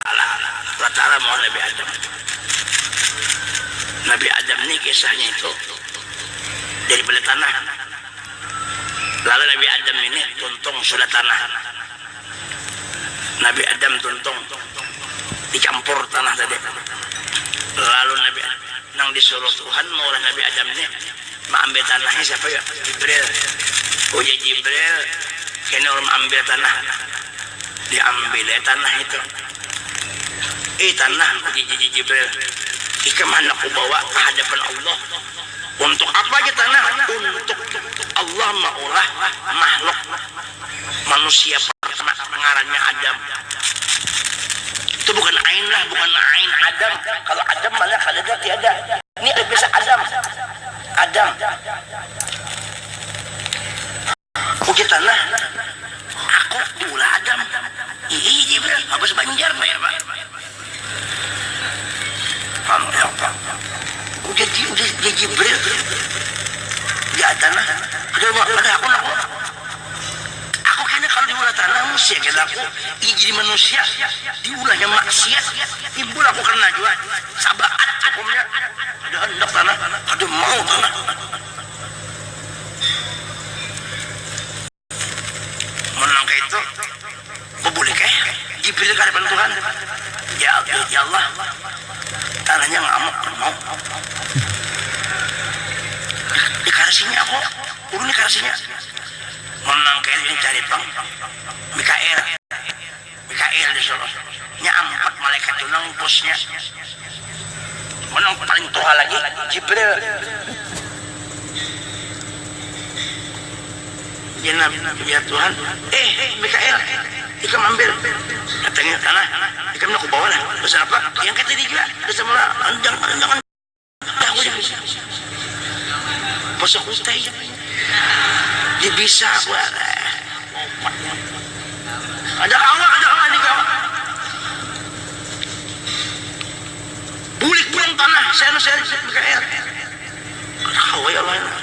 Alah alah alah batara muha nabi adam nabi adam ni kisahnya itu dari pada tanah lalu nabi adam ini tuntung sudah tanah nabi adam tuntung di campur tanah tadi lalu nabi nang di suruh tuhan maulah nabi adam ni Maambil tanahnya siapa ya? Jibril. Ujar Jibril, kena ulun maambil tanah. Diambil ai tanah itu. Ih tanah, ujar Jibril, ikam handak kubawa ka hadapan Allah. Untuk apa ja tanah? Untuk Allah maulah makhluk manusia pertama ngarannya Adam. Itu bukan ainlah, bukan ain Adam. Kalau Adam mana kadada, tiada. Ini ada tulisan Adam. Adam. Ujar Tanah, Aku pulah Adam. Iih jar Ibrahim, habis Banjar nah jar Pak. Ujar jar Jibril, Jar Tanah, kada aku nah kok. Aku kena kalu diulah tanah musia kena aku ingin jadi manusia diulahnya maksiat timbul aku kena jua sabaat hukumnya kada handak tanah kada mau tanah mun nang kaya itu babulih kah jibril ka hadapan tuhan ya allah tanahnya ngamuk kada mau dikarasinya aku ulun dikarasinya. Mun nang kaya ini cari pang Mikail, Mikail disuruh, nya ampat malaikat tu nang bosnya. Mun nang paling tuha lagi Jibril. Genap ya Tuhan, eh Mikail ikam ambil batangnya tanah, ikam nang kubawa lah, pasal apa yang kaya tadi jua, dasar mula jangan jangan. Tahu jua masak utai di bisa kada kawa kada kawa ni kawa bulik pulang tanah kada kawa ya Allah.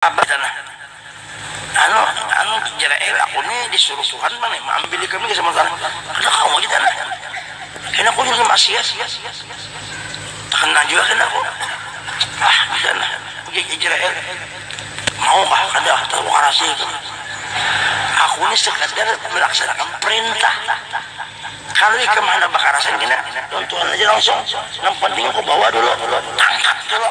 Abah tanah. Anu, anu Jerael, aku ni disuruh Tuhan pang nih maambil ikam ni gasan Tuhan. Kada kawa lagi tanah. Kena aku ni maksiat. Takena jua kena aku. Ah, ujar tanah. Ujar Jerael. Mau kah kada tahu karasa ikam. Aku ni sekadar melaksanakan perintah. Kalu ikam handak bakarasan kena lawan Tuhan aja langsung. Nang penting aku bawa dulu tangkap tu lo.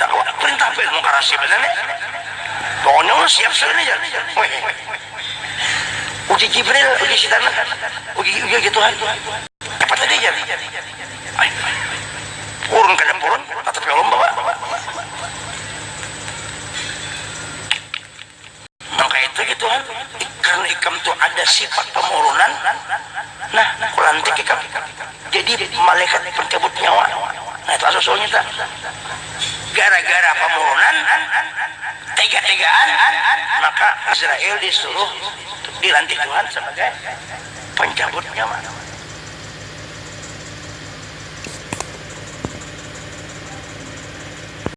Darurat perintah demokrasi banar nih. Pokoknya ulun siap sudah nih jar. Uji Jibril, uji sitan, uji uji Tuhan. Dapat lagi jar. Purun kada purun, tatapi ulun bawa. Maka itu gitu kan, karena ikam tu ada sifat pemurunan, nah kulantik ikam jadi malaikat pencabut nyawa. Nah itu asal usulnya ta. Gara gara pemurunan, tega tegaan, maka Israil disuruh dilantik Tuhan sebagai pencabut nyawa.